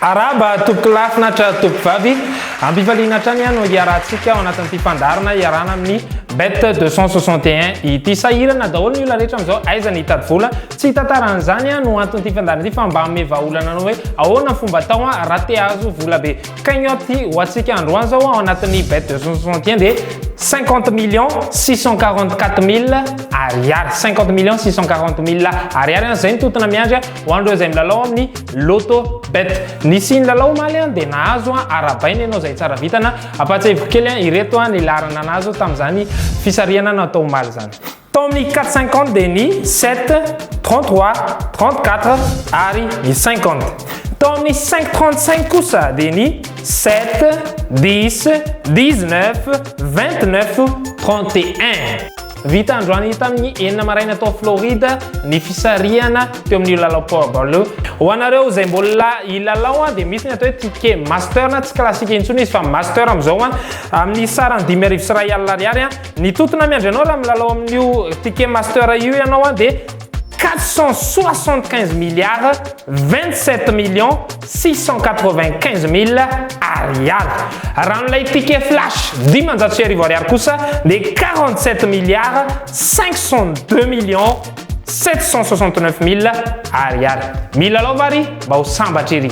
Arahaba tompoko lahy finaritra tompoko vavy. Ampifaliana hatrany aho no hiarahantsika ao anatin'ity fandaharana iarahana amin'ny Bet 261 ity. Sahirana daholo ny olona rehetra amin'izao aiza ny hitady vola Tsy hitantara an'izany no anton'ity fandaharana ity fa mba hanome vahaolana anao hoe ahoana ny fomba atao raha te hahazo vola be cagnotte ho antsika androany izao ao anatin'ny bet 261 dia 50 millions 644 mille ariary 50 millions 640 mille ariary an izay ny totona miandry ho an'ireo izay milalao amin'ny loto bet nisy ny lalao omaly an dia nahazo an arabaina ianao izay tsara vitana ampahatsiahiviko kely an ireto an ny laharana nahazo tamin'izany fisarihana natao omaly izany Tao amin'ny quatre cinquante dia ny sept, trente trois, trente quatre ary ny cinquante. Tao amin'ny cinq trente cinq kosa dia ny sept, dix, dix neuf, vingt neuf, trente et un. Vita androany tamin'ny enina maraina tao Florida ny fisarihana teo amin'io lalao powerball io. Ho anareo izay mbola hilalao dia misy ny atao hoe ticket master na tsy classique intsony izy fa master amin'izao amin'ny sarany dimy arivo sy iray alina ariary. Ny totona miandry anao raha milalao amin'io Ticket Master io ianao an dia 475 milliards 27 millions 695 mille ariary. Raha amin'ilay Ticket Flash dimanjato sy arivo ariary kosa dia 47 milliards 502 millions 769 mille ariary. Milalao va ry mba ho sambatra ery.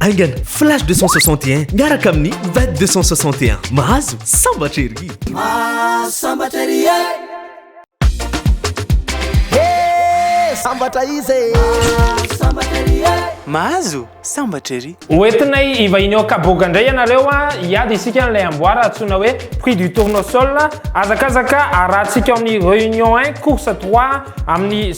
Aingana, Flash 261 miaraka amin'ny Vet 261. Mahazo sambatra ery! Mahazo sambatra ery e! Hey! Sambatra izy e! Mahazo sambatra ery e! Mahazo sambatra ery! Hoentinay hivahiny ao Kaboga indray ianareo a! Hiady isika an'ilay amboara antsoina hoe prix du tournesol. Hazakazaka arahantsika ao amin'ny Réunion un, course trois, amin'ny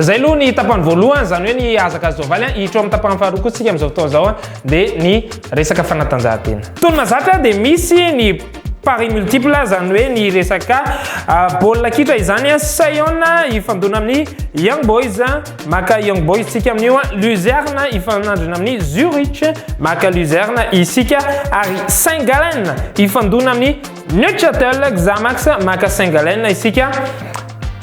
Zay aloha ny tapany voalohany, zany hoe ny hazakazaovaly an, hiditra ao amin'ny tapany faharoa koa tsika amin'izao fotoana izao an, dia ny resaka fanatanjahantena. Tony mazatra dia misy ny paris multiple, zany hoe ny resaka baolina kitra izany an, Saion hifandona amin'ny Young Boys, maka Young Boys tsika amin'io an, Luzerne hifanandrina amin'ny Zurich, maka Luzerne isika, ary Saint Gallen hifandona amin'ny Neuchâtel Xamax, maka Saint Gallen isika.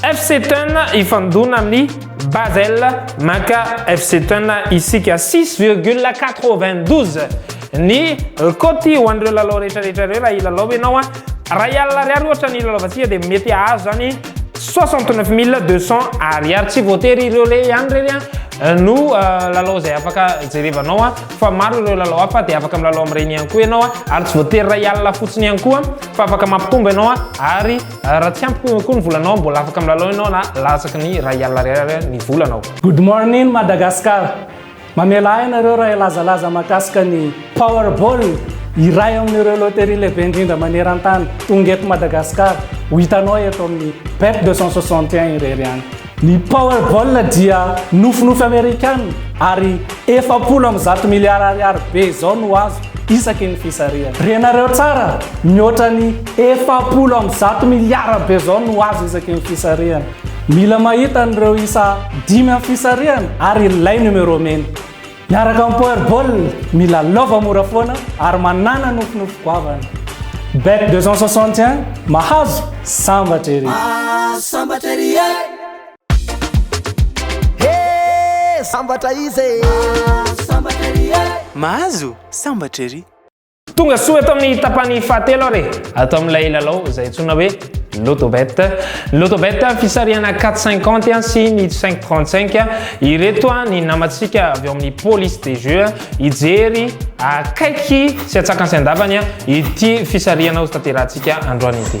FC Thun hifandona amin'ny Basel, maka FC Thun isika 6,92 ny cote ho an'ireo lalao rehetra rehetra ireo raha hilalao ianao a Rayal ariary ohatra ny hilalaovantsika dia mety hahazo zany 69200 ariary tsy voatery ireo le ihany reny a no euh, lalao izay afaka jerevanao a fa maro ireo lalao hafa dia afaka milalao amin'ireny ihany koa ianao a ary tsy voatery Rayal fotsiny ihany koa fa afaka mampitombo ianao a ary Raha tsy ampy koa ny volanao, mbola afaka milalao ianao na latsaky ny iray alina ariary ny volanao. Good morning Madagascar! Mamela ahy ianareo raha hilazalaza mahakasika ny Powerball, iray amin'ireo loterie lehibe indrindra maneran-tany. Tonga eto Madagascar, ho hitanao eto amin'ny Bet 261 irery any. Ny Powerball dia nofinofy Amerikana ary efapolo amby zato miliara ariary be izao no azo isaky ny fisarihana. Renareo tsara, mihoatra ny efapolo amby zato miliara be izao no azo isaky ny fisarihana. Mila mahita an'ireo isa dimy amin'ny fisarihana ary ilay numéro mena. Miaraka amin'ny Power Ball, mila lova mora foana ary manana nofinofy goavana. Bet 261, mahazo, sambatra ery! Ah, sambatra ery e! He, sambatra izy e! Ah, sambatra ery e! Mahazo, sambatra ery! Tonga soa eto amin'ny tapany fahatelo ary e. ato amin'ilay lalao izay antsoina hoe Lotobet. Lotobet fisarihana 4,50 sy ny 5,35. Ireto ny namantsika avy ao amin'ny police des jeux hijery akaiky sy atsakany sy andavany ity fisarihana ho tanterahantsika androany ity.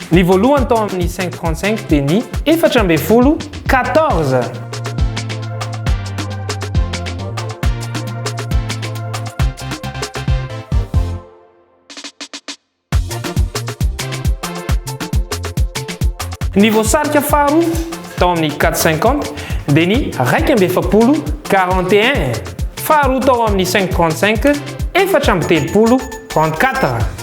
Ny voalohany tao amin'ny cinq trente cinq dia ny. Efatra ambin'ny folo, quatorze. Ny voasarika faharoa tao amin'ny 450 dia ny raika amby efapolo 41. Faharoa tao amin'ny 535 efatra amby telopolo 34.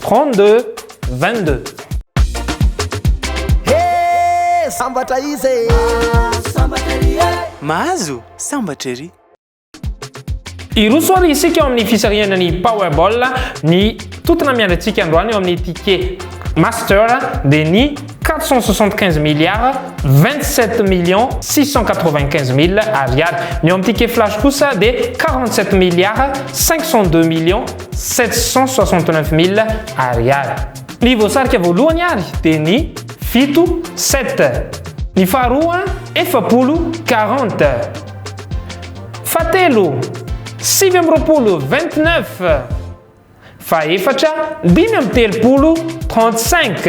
32, 22. He! Sambatra izy e! Mahazo sambatra ery e! Mahazo sambatra ery! Hiroso ary isika ao amin'ny fisarihana ny Powerball, ny tontona miandry antsika androany eo amin'ny ticket Master dia ny 475 milliards 27 millions 695 mille ariary. Ny ao amin'ny ticket Flash kosa dia 47 milliards 502 millions 769.000 Ar. Ny voasarika voalohany ary dia ny fito, sept. Ny faharoa, efapolo, quarante. Fahatelo, sivy amby roapolo, vingt-neuf. Fahefatra, dimy amby telopolo, trente-cinq.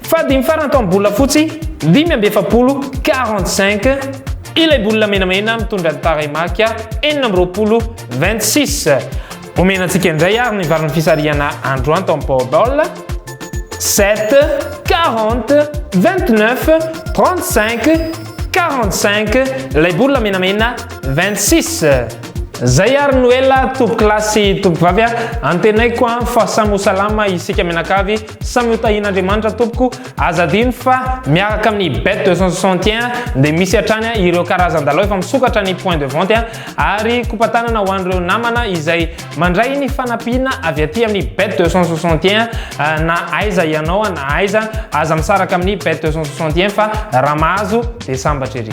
Fahadimy farany tao amin'ny bola fotsy, dimy amby efapolo, quarante-cinq. Ilay bola menamena mitondra ny tarehimarika enina amby roapolo, vingt-six. Omena antsika indray ary ny valin'ny fisarihana androany tao amin'ny Powerball. 7, 40, 29, 35, 45, ilay bola menamena 26. Zay ary Noela, tompo kilasy sy tompo vavy a, antenaiko a fa samy ho salama isika mianakavy, samy ho tahian'Andriamanitra tompoko, aza adino fa miaraka amin'ny bet 261 dia misy hatrany ireo karazan-dalao efa misokatra ny point de vente a, Ary kopa-tanana ho an'ireo namana izay mandray ny fanampiana avy aty amin'ny Bet 261 na aiza ianao na aiza, aza misaraka amin'ny Bet 261 fa raha mahazo dia sambatra ery.